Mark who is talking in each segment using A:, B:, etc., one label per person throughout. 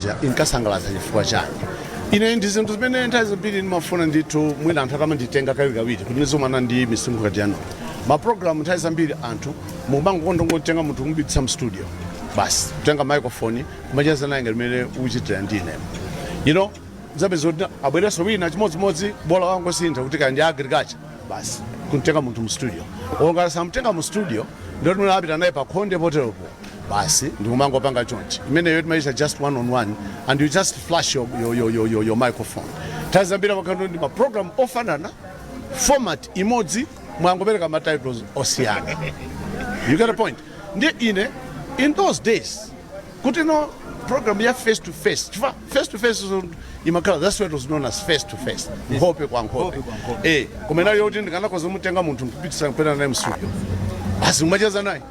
A: ija inkasangalatsa chifukwa chani ine ndi zinthu zimene nthawi zambiri ndimafuna ndithu mwina anthu akamanditenga kawirikawiri kuti ndizomana ndi misinkhu ngati yanu mapulogalamu nthawi zambiri anthu mukumangokonda kungotenga munthu kumupititsa mstudio basi kutenga microphone kumacheza naye ngati mmene ukuchitira ndine you know uzapeza kuti abwerenso wina chimodzimodzi bola wangosintha kuti kaya ndi agriculture basi kumtenga munthu mu studio ngati samtenga mu studio ndiye tinapita naye pa khonde poteropo basi ndikumangopanga chonchi imeneyo timayitcha just one on one and you just flash your, your, your, your, your, your microphone nthawi zambiri amakhala ndi maprogram ofanana format imodzi mwangopereka matitles osiyana you get a point ndiye ine in those days kuti no program ya face to face chifukwa face to face so imakhala that's what was known as face to face nkhope kwa nkhope eh koma inali yoti ndikanakhoza kumutenga munthu kumpititsa kupita naye mstudio basi kumacheza naye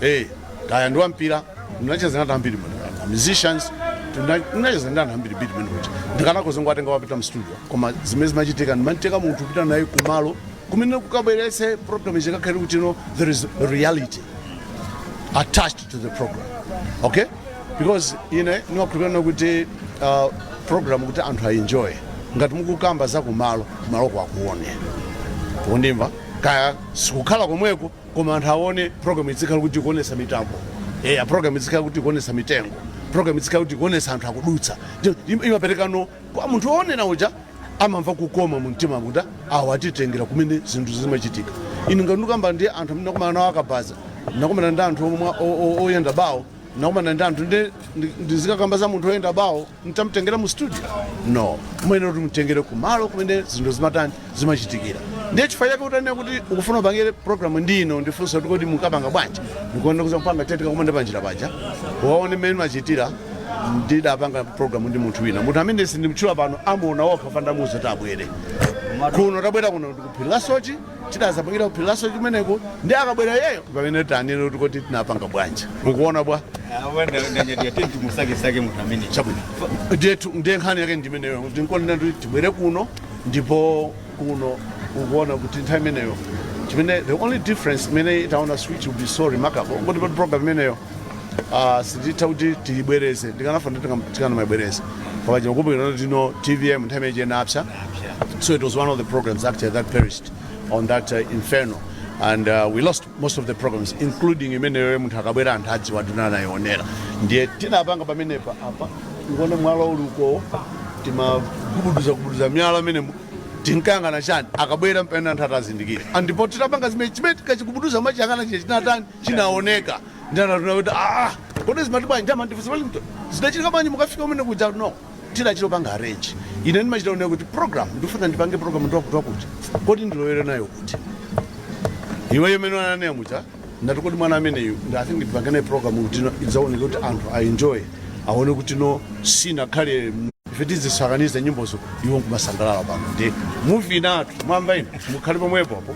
A: eh kaya ndi wampira ndinacheza ndi anthu ambiri mene a musicians tuna- ndinacheza ndi anthu ambiri bidi mene kuti ndikanakhoza kungowatenga kuwapititsa mu studio koma zimene zimachitika ndimatenga munthu kupita naye kumalo kumene kukabweretse program ikakhale kuti no there is reality attached to the program okay because ine ndimakhulupirira kuti uh, program kuti anthu aenjoye ngati mukukamba za kumalo kumaloko akuone kundimva kaya sikukhala komweko koma anthu awone program idzikhala kuti ikuonetsa mitambo eya program idzikhala kuti ikuonetsa mitengo program idzikhala kuti ikuonetsa anthu akudutsa Ndio, im- imaperekano kwa munthu woonera uja amamva kukoma mu mtima kuti awo atitengera kumene zinthu zimachitika ine ngati ndikukamba ndi anthu amene ndinakumana nawo akabaza ndinakumana ndi anthu omwe o- o- oyenda bawo nakumana ndi anthu nde ndi- ndizikakamba za munthu oyenda bawo nditamtengera mu studio no ndiyenera kuti ndimtengere kumalo kumene zinthu zimatani zimachitikira ndiye chifukwa chake utanena kuti ukufuna upangire programu ndi ine unandifunsa kuti kodi mukapanga bwanji ndikuona kuti ukapanga titakumana panjira paja waone mmene ndimachitira ndidapanga programu ndi munthu wina munthu amene sindimtchula pano amuona okha ndamuuza tabwera kuno tabwera kuno ndikuphiri la Soche Tidazapangira ku phiri la Soche kumeneko ndiye akabwera iyeyo mpamene tanene kuti kodi tinapanga bwanji. Mukuona bwanji? Awa nda- ndanyadira
B: ndati timusakesake munthu amene. Chabwino. Ndiye
A: tu- ndiye nkhani yake ndi imeneyo kuti nkonena kuti tibwere kuno ndipo kuno ukuona kuti nthawi imeneyo chimene the only difference imene titaone which will be so remarkable ngoti pa program imeneyo Ah, sititha kuti tiyibwereze ndikanafuna tikanamayibwereza koma ukukumbukira kuti no tvm nthawi imeneyo inapsa so it was one of the programs actually that perished on that uh, inferno and uh, we lost most of the programs including imeneyo munthu akabwera anthu adziwa tinanayionera ndiye tinapanga pamenepa apa uwone mwala uli uko timagubuduza gubuduza miyala amene tinkayang'ana chani akabwera mpamene anthu atazindikira ndipo titapanga zimene chimene tinkachigubuduza kumachiyang'ana chine chinatani chinaoneka ndinanena kuti aa kodi zimati bwanji amandifunsa Wellington zidachitika bwanji mukafika umene kuja no tidachita panga arrange ine ndimachita kunena kuti program ndifuna ndipange program ndi wakuti wakuti kodi ndilowere nayo kuti iweyo mene ananena muja ndati kodi mwana ameneyu I think ndipange naye program kuti no idzaoneka kuti anthu aenjoy aone kuti no sinakhale m- ife tizisakaniza nyimbozo iwo nkumasangalala pano ndi muvi inatu mwamba ino mukhale pomwepo apo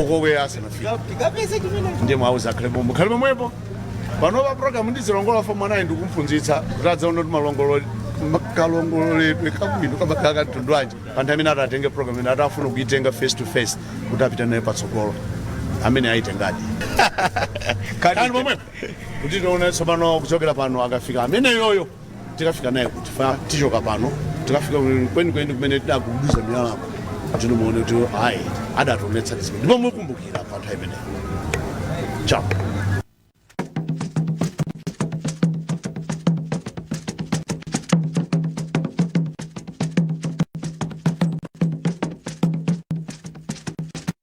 A: okobwera asanafike ndiye mwauza akhale pomwe akhale pomwepo panopa programu ndizilongola fo mwanayi ndikumphunzitsa kuti adzaona kuti kalongoledwe kabwino kamakhala ka mtundu wanji pa munthu amene atatenge programu imene atafuna kuitenga face to face kuti apite naye patsogolo amene ayitengadi kani pomwepo kuti tione tsopano kuchokera pano akafika amene yoyo tikafika naye kuti fa tichoka pano tikafika kwenikweni kumene tidagubuduza miyalako ndinu muone kuti ayi adationetsa zimene ndipo mukumbukira pa nthawi imeneyo chao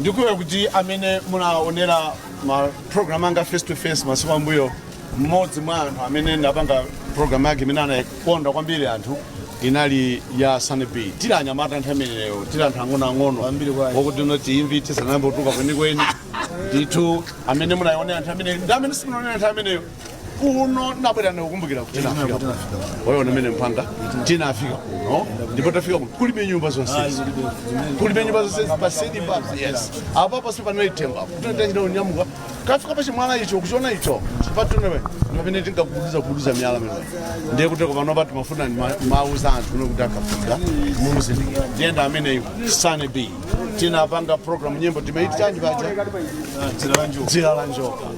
A: ndikudziwa kuti amene munaonera ma program anga face to face masiku ambuyo mmodzi mwa anthu amene ndapanga program yake imene anakonda kwambiri anthu inali ya San B tili anyamata nthawi imeneyo tili anthu ang'onoang'ono wakuti not imvi tisanayamba kutuluka kwenikweni ndithu amene munaionera nthawi imeneyo ndi amene simunaonera nthawi imeneyo kuno ndabwera ndikukumbukira kuti tinafika kuno. waona mene mpanga tinafika kuno ndipo tafika kuno kulibe nyumba zonse kulibe nyumba zonse pasedi papa yes apa pasi panali temba kutotanjira kunyamuka kukafika pa chimwala icho kuchiona icho patunewe pamene tinkagubuduza gubuduza miyala mene ndiye kuti panopa timafuna timawauza anthu kuno kuti akafika mumuzindikira ndi yemwe ameneyo San B tinapanga program nyimbo timaiti chanji paja dzira la njoka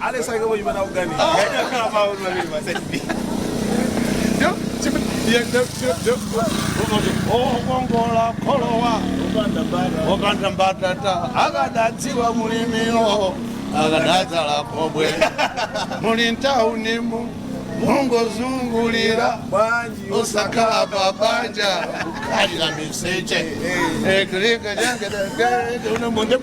A: alesake kuchimana kuganiza kukongola kholowa opanda mbatata akadadziwa mlimiyo akadadzala khobwe muli ntaunimu mungozungulira bwanji osakhala pabanja kukhalira miseche eklika jangedegedeunamundep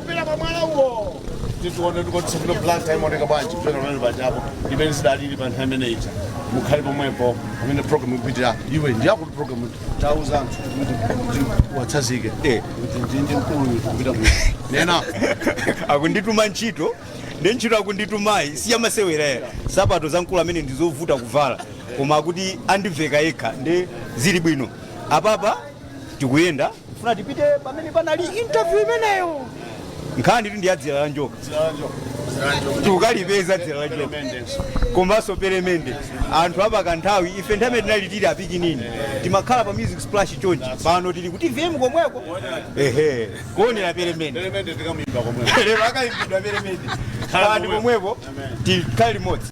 A: kupita pa mwala uwo tizione tikotsikira Blantyre ikuoneka bwanji kupita pamenepa chapo ndi mmene zidalili pa nthawi imene ija mukhale pomwepo pamene program ikupitira iwe ndiye kuti program tauza anthu kuti uwatsazike kuti ndindi mkulu kupita mukunena
C: akundituma ntchito ndi ntchito akunditumayi siyamasewera nsapato za mkulu amene ndizovuta kuvala koma akuti andiveka yekha ndi zili bwino apapa tikuyenda funa tipite pamene panali interview imeneyo nkhani ndi ya dzira la njoka tukalipeza dzira la njoka komanso pelemende anthu apatsa nthawi ife nthawi imene tinali tili apikinini timakhala pa music splash chonchi pano tili ku TVM komweko ehe kuonera
A: pelemende lero akayimbidwa
C: pelemende khalani pomwepo tikhale limodzi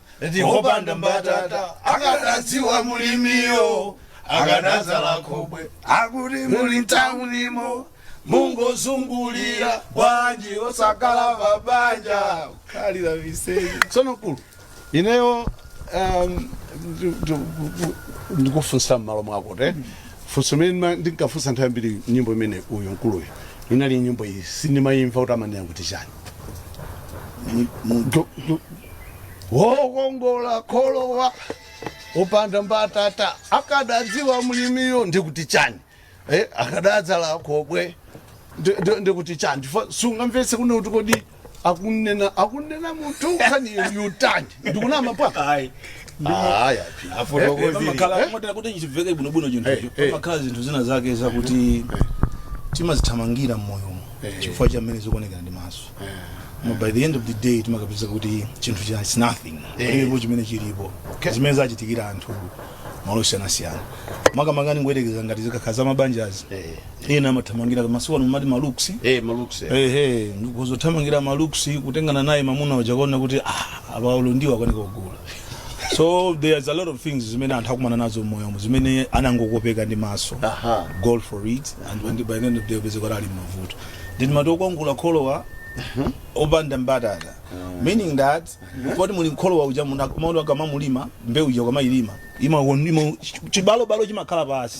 A: ndi
D: opanda mbatata akadadziwa mulimiyo akadadzala khobwe akuti muli ntaunimo mungozungulira bwanji osakhala pabanja khalira viseyi tsono
A: mkulu ineyo um, ndi- ndi- ndikufunsa mmalo mwako te funso limene ndima- ndinkafunsa nthawi zambiri nyimbo imene uyu mkuluyu inali nyimbo iyi sindimayimva kuti amanena kuti chani wokongola kholowa opanda mbatata akadadziwa mlimiyo ndikuti chani eh, akadadzala khobwe ndi- ndi- ndikuti chani Chifukwa sungamvetse kuno kuti kodi akunena akunena munthu kapena chiyani ndikunama bwana ayi
D: aya pamakhala motera kuti chimveke bwinobwino chinthucho Eh, eh. pamakhala zinthu zina zake zakuti timazithamangira mmoyomo Eh. chifukwa cha mmene zikuonekera ndi maso Koma by the end of the day timakapeza kuti chinthu chija is nothing Eh. ndipo chimene chilipo Okay. zimene zachitikira anthu malo osiyanasiyana makamaka ndingoyerekeza ngati zikakhala za mabanjazi Eh. ena amathamangira koma masiku ano mumati malooks eh malooks eh. ehe kudzathamangira malooks kutengana naye mamuna uja kuona kuti ah abaulo ndiwo akanika kugula so there's a lot of things zimene anthu akumana nazo mmoyomo zimene anangokopeka ndi maso aha go for it and when by the end of the day upeze kuti ali mavuto then mati wokongola kholowa opanda mbatata meaning that poti muli mkholowa uja muna- maono ukamamulima mbewu uja ukamayilima imaonima chibalobalo chimakhala pansi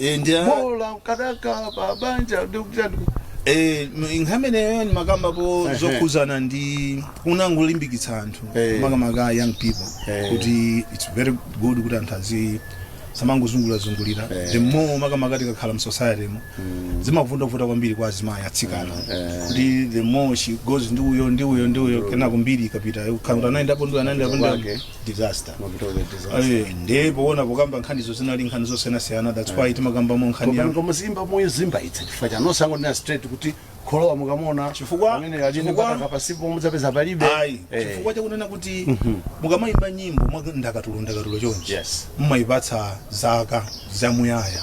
A: Eh, ndi a- bola akadakhala pa banja ndi kuti chani ndi- eh,
D: m- nkhani ineyo ndimakambapo Ehe. zokhuzana ndi kunangolimbikitsa anthu Eh. makamaka young people Eh. kuti its very good kuti anthu azi samangozungulirazungulira Eh. the more makamaka tikakhala mu society mo zimavuta kwambiri kwa azimayi atsikana Eh. kuti the more she goes ndi uyo ndi uyo ndi uyo kenako mbiri ikapita ukhala kuti anayendapo ndi uyo, anayendapo ndi uyo. Wake. disaster mavuto ake disaster Eh, ndiye poona pokamba nkhanizo zinali nkhani zosiyanasiyana that's why timakambamo nkhani popano ya ngoma zimba moyo zimba
A: itse chifukwa chani osangonena straight kuti kholowa mukamona Chifukwa- amene ali
D: chifukwa-
A: mbatata pansipo mudzapeza palibe ayi Eh, chifukwa
D: chakunena kuti mukamayimba nyimbo mwa ndakatulo ndakatulo chonchi yes mumayipatsa zaka zamuyaya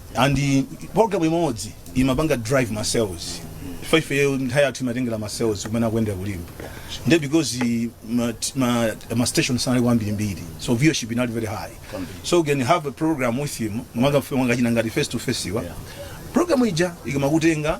D: and program imodzi imapanga drive ma sales chifukwa ifeyo nthawi yathu imatengera ma sales kumene akuyendera kulimba nde because eh, ma, ma, ma station sanali ambirimbiri so viewership inali very high so you can have a program with him mwakafika mwakachina ngati face to face wa program ija ikamakutenga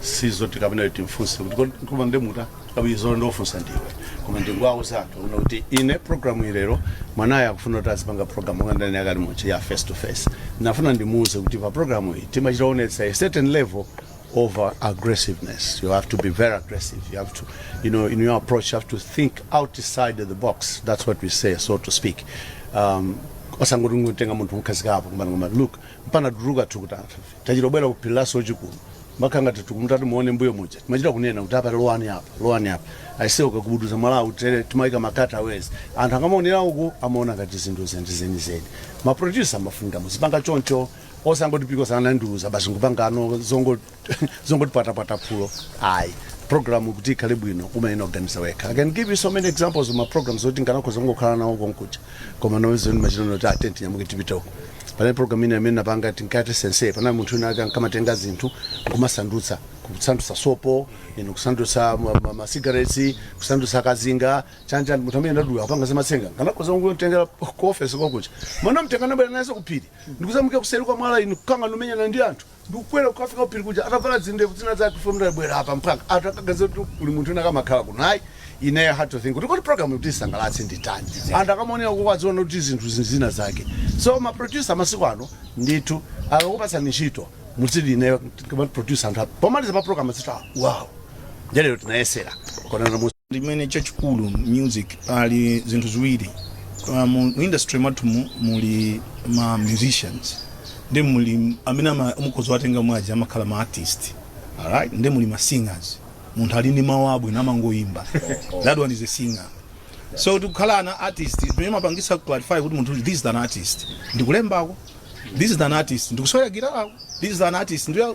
A: sizoti kapena kuti timfunse kuti kodi koma ndemuta kabili zolo ndofunsa ndiwe koma ndinkawauza anthu kuno kuti ine programu ilero mwanayo akufuna kuti azipanga programu monga ndani akali muchi ya face to face nafuna ndimuuze kuti pa programu iyi timachita onetsa a certain level of uh, aggressiveness you have to be very aggressive you have to you know in your approach you have to think outside the box that's what we say so to speak um, osangoti kungotenga munthu mukhazikapo kumana kumana look mpana tuluka thukuta Tachita kubwera ku phiri la Soche kuno mpaka ngati tikumati muone mbuyo muja timachita kunena kuti apa lowani apa lowani apa aise ukagubuduza mwalawu tere timayika ma cutaways anthu akamaonera uku amaona ngati zinthu zinthu zenizeni maproducer amafunika muzipanga choncho osangoti because sanandiuza basi ngupangano zongo- zongotipatapata phulo ayi program kuti ikhale bwino umayenera kuganiza wekha i can give you so many examples of ma programs oti nkanakhoza kungokhala nawo konkuja koma nozoni machitano kuti tiyeni tinyamuke tipite uko Panali program ina imene napanga tinkati sensei, panali munthu wina wake ankamatenga zinthu kumasandutsa kusandutsa sopo ino kusandutsa ma- ma- ma cigarettes kusandutsa kazinga chanjani munthu amene ndadula apanga zamatsenga nkanakhoza kungotengera ku office konkuja koma namtenga nabwera naye kuphiri ndikuzamuika kuseri kwa mwala inu kukangana kumenyana ndi anthu ndikukwera kukafika kuphiri kuja atavala zindevu zina zake from there bwera apa mpaka anthu akaganiza kuti kuli munthu wina akamakhala kuno ayi ineyo I had to think kuti kodi program kuti isangalatse nditani anthu akamaonera koko adziona kuti zinthu zinthu zina zake so ma producer masiku ano ndithu akakupatsani ntchito mudziti ineyo kama producer anthu apa pomaliza pa program adziti wow nde lero tinayesera kuona limene
D: chachikulu music pali zinthu ziwiri uh, mu mu industry mwathu mu- muli ma musicians ndi muli amene ama- mukhoza watenga mwaji amakhala ma artist alright ndi muli ma singers munthu ali ndi mawu abwino amangoyimba that one is a singer so tikukhala an artist pamene mapangisa clarify kuti munthu uyu, this is an artist ndikulembako this is an artist ndikusewera gitarako this is an artist ndiya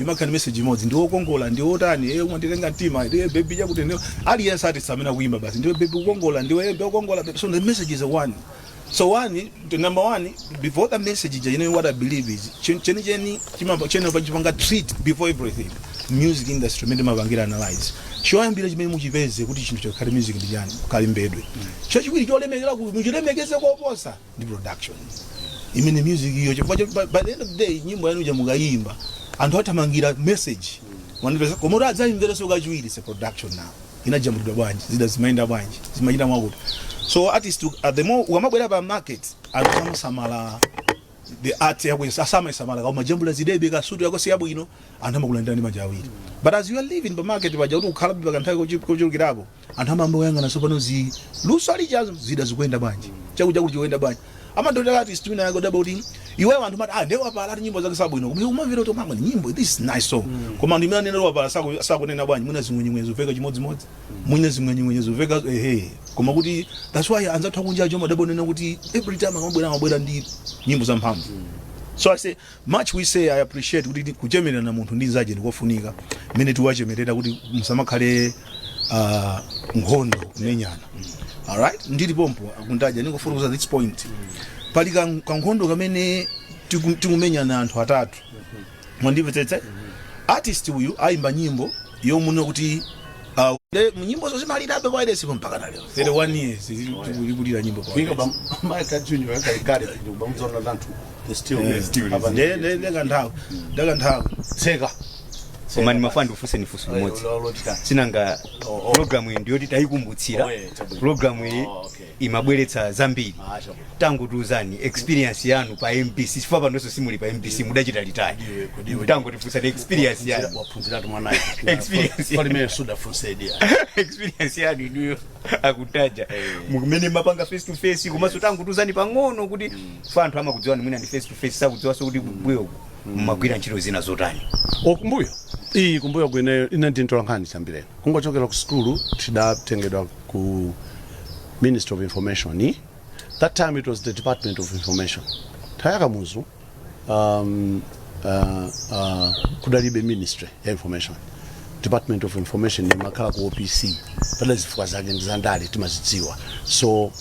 D: Imakhala ndi message imodzi ndiwe okongola ndiwe otani ee umanditenga mtima ee baby chakuti ndiwe aliyense artist amene akuyimba basi ndiwe baby ukukongola ndiwe ee okongola baby so the message is one so one the number one before the message ija you know what i believe is chen- chenicheni chimapa chene pachipanga treat before everything music industry imene timapangira analyze choyambira chimene muchipeze kuti chinthu chikhale music ndi chani kalembedwe chachiwiri cholemekezeka ku- muchilemekeze koposa ndi production imene music iyo chifukwa choti by- by the end of the day nyimbo yanu ija mukayimba anthu athamangira message mwanipeza koma kuti adzayimvereso kachiwiri se production now inajambulidwa bwanji zida zimayenda bwanji zimachita mwakuti so artist uh, the more ukamabwera pa market anthu samasamala the art yako samayisamala koma jambula zidebe ka studio yako si yabwino anthu amakulandira ndi manja awiri but as you are living pa market paja kuti ukhalabe pa kanthawi kochi- kochulukirapo Anthu amayamba kuyang'ana tsopano zi luso lijazo zida zikuyenda bwanji chakutichakuti chikuyenda bwanji amadotera artist wina yake udabwa kuti iweyo anthu amati ah nde wapala ati nyimbo zake sabwino koma iwe umamvera kuti mama nyimbo this is nice song koma anthu amene anena kuti wapala saku- sakunena bwanji mwina zing'wenyeng'wenye zomveka chimodzimodzi mwina zing'wenyeng'wenye zomveka ehe koma kuti that's why anzathu akunja aja umadabwa kunena kuti every time akamabwera amabwera ndi nyimbo zamphamvu so i say Much we say I appreciate kuti kuchemererana munthu ndi nzache ndikofunika mmene tiwachemerera kuti musamakhale uh, nkhondo kumenyana alright ndili pompo a Kuntaja ndingofotokoza this point pali kan- kankhondo kamene tiku- tikumenyana anthu atatu mwandimvetsetsa artist uyu ayimba nyimbo yomuno kuti uh, le- nyimbo zo zimalirabe ku wailesipo mpaka na lero 31 years ikulira nyimbo ku wailesi. ba maka
A: junior yaka ikale kuba mzona zantu. It's still Yeah, it's still apa is. nde nde nde kanthawi nde kanthawi tseka
C: koma ndimafuna ndifunse ni funso limodzi si nanga Oh, oh. pulogalamu iyi ndiyoti tayikumbutsira Oh, yeah, chabwino. pulogalamu iyi Oh, okay. imabweretsa zambiri Ah, chabwino. tangotiuzani experience yanu pa mbc chifukwa panonso simuli pa mbc mudachita retire Ndiwe, kudiwe. tangotifunsani experience yanu waphunziratu
A: mwanayo Experience.
C: palimene sudafunse
A: the experience
C: yanu inuyo a Kuntaja mmene mumapanga face to face komanso tangotiuzani pang'ono kuti chifukwa anthu amakudziwani mwina ndi face to face sakudziwanso kuti kumbuyo uku mumagwira ntchito zina zotani O,
A: kumbuyo iyi kumbuyo kwene ine ndi mtolankhani chiyambireni kungochokera ku sukulu tidatengedwa ku ministry of information i. that time it was the department of information nthawi ya Kamuzu um, uh, uh, kudalibe ministry ya information department of information imakhala ku opc padali zifukwa zake ndi zandale timazidziwa so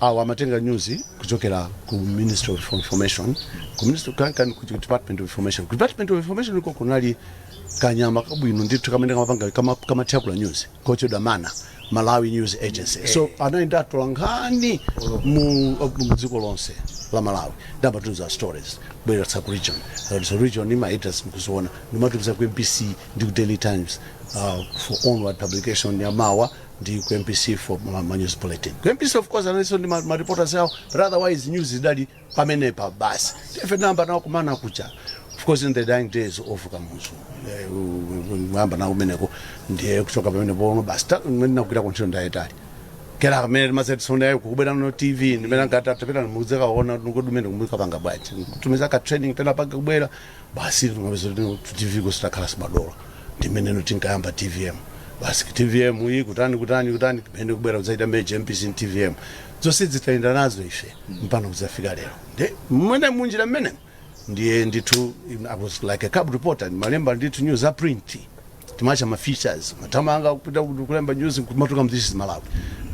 A: Awa amatenga news kuchokera ku Ministry of Information, ku Ministry kan, kan, ku Department of Information. Ku Department of Information iko kunali kanyama kabwino ndithu kamene kamapanga kama- kamathyakula news kotchedwa MANA Malawi News Agency. So anali ndi atolankhani mu mu dziko lonse la Malawi nde amatumiza stories bweretsa ku region Uh, so region ni ma editors nkuziona nkumatumiza ku MBC ndi ku Daily Times uh, for onward publication ya mawa ndi ku mbc for ma ma news bulletin ku mbc of course analinso ndi ma, ma reporters awo but otherwise news zidali pamenepa basi ndife tinayamba nawo kumana kuja of course in the dying days of kamuzu Eh, u- u- kuyamba nawo kumeneko ndiye kuchoka pamenepo no basi ta- mmene ndinagwira kuntchito ndayetali kera kumene timazetisona yayo kukubera no tv ndimene angatapita ndimudzeka ona nukudumene kumulika panga bwanji tumiza ku training tina panga kubwera basi tumapeza kuti tv kuti takhala timadolo ndi mmene no tinkayamba tvm basi tvm ija kutani kutani kutani kumene kubwera kudzaita merge mbc ndi tvm zonse tayenda nazo ife mpaka no kudzafika lero ndiye mmene munjira mmenemo ndiye ndithu i was like a cub reporter timalemba ndithu news a print timachita ma features matamanga kupita kulemba news kumatuluka mu this is malawi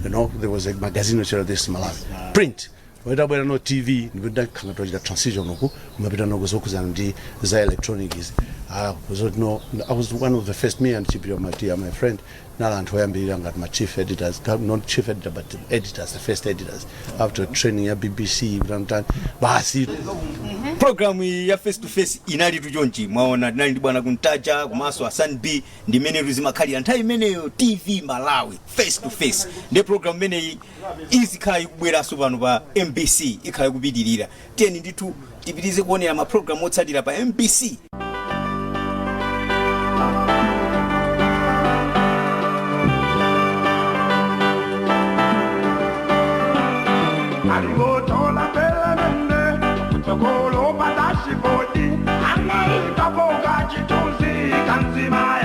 A: you know there was a magazine which was this is malawi print itabwera no tv ndipo ndakhala tikuchita transition uku kumapita no ku zokhudzana ndi za electronics ah zoti no i was one of the first me and chipiliro matiya my friend tinali anthu oyambirira ngati ma chief editors ka- not chief editor but the editors the first editors after training ya bbc kutanikutani basi
C: programu iyi ya face to face inalitu chonchi mwaona tinali ndi bwana kuntaja komanso hassan b ndi mmenetu zimakhalira nthawi imeneyo tv malawi face to face ndipo programu imeneyi izikhala ikubweranso pano pa mbc ikhala ikupitirira tiyeni ndithu tipitirize kuonera mapulogalamu otsatira pa mbc
E: Aligotola pelelende, tokolo pa dashibodi, anaikapo kachithunzi kanzima